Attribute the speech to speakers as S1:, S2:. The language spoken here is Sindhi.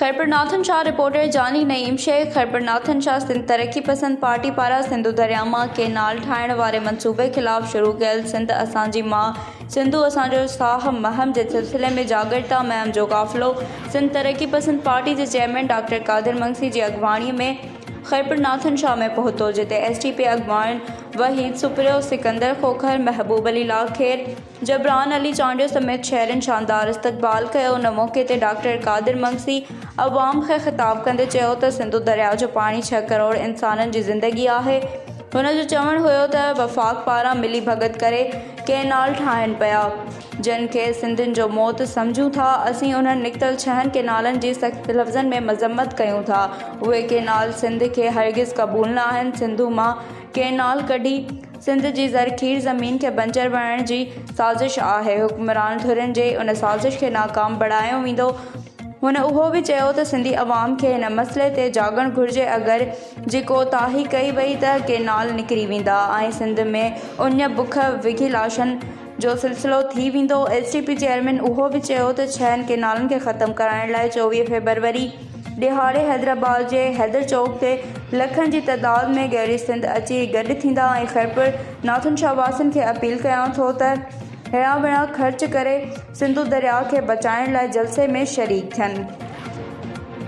S1: خيرپورناٿن شاهه رپورٽر، جاني نعيم شيخ، خيرپورناٿن شاهه سنڌ ترقي پسند پارٽي پاران سنڌو درياء مان ڪئنال ٺاهڻ واري منصوبي خلاف شروع ڪيل سنڌ اسان جي ماء سنڌو اسان جو ساهه مهم جي سلسلي ۾ جاڳرتا مهم جو قافلو سنڌ ترقي پسند پارٽي جي چيئرمين ڊاڪٽر قادر مگسي جي اڳواڻي ۾ خيرپورناٿن شاهه ۾ پهتو جتي ايس ڊي پي اڳواڻ وحيد سپريو، سڪندر کوکر، محبوب علي لاکير، جبران علي چانڊيو سميت شهرين شاندار استقبال ڪيو ان موقعي تي ڊاڪٽر قادر مگسي عوام کي خطاب ڪندي چيو ته سنڌو درياء جو پاڻي ڇهه ڪروڙ انسانن جي زندگي آهي هن جو چوڻ هيو ته وفاق پاران ملي ڀڳت ڪري ڪئنال ٺاهين پيا جن کي سنڌين جو موت سمجهون ٿا اسين انهن نڪتل ڇهن ڪئنالن جي سخت لفظن ۾ مذمت ڪيون ٿا اهي ڪئنال سنڌ کي هرگز قبول ناهن سنڌو مان ڪئنال ڪڍي سنڌ جي زرخيز زمين کي بنجر بڻائڻ جي سازش آهي، حڪمران ڌرين جي ان سازش کي ناڪام بڻايو ويندو. هن اهو به چيو ته سنڌي عوام کي هن مسئلي تي جاڳڻ گهرجي اگر جي ڪوتاهي ڪئي وئي ته ڪئنال نڪري ويندا ۽ سنڌ ۾ اڃ بک وکي لاشن جو سلسلو ٿي ويندو، ايس ٽي پي چيئرمين اهو به چيو ته ڇهن ڪينالن کي ختم ڪرائڻ لاء چوويهه فيبروري ڏهاڙي حيدرآباد جي حيدر چوڪ تي لکن جي تعداد ۾ گهري سنڌ اچي گڏ ٿيندا ۽ خيرپور ناٿن شاهه واسين کي اپيل ڪيان ٿو ته هڙان وڙان خرچ ڪري سنڌو درياء کي بچائڻ لاء جلسي ۾ شريڪ ٿين.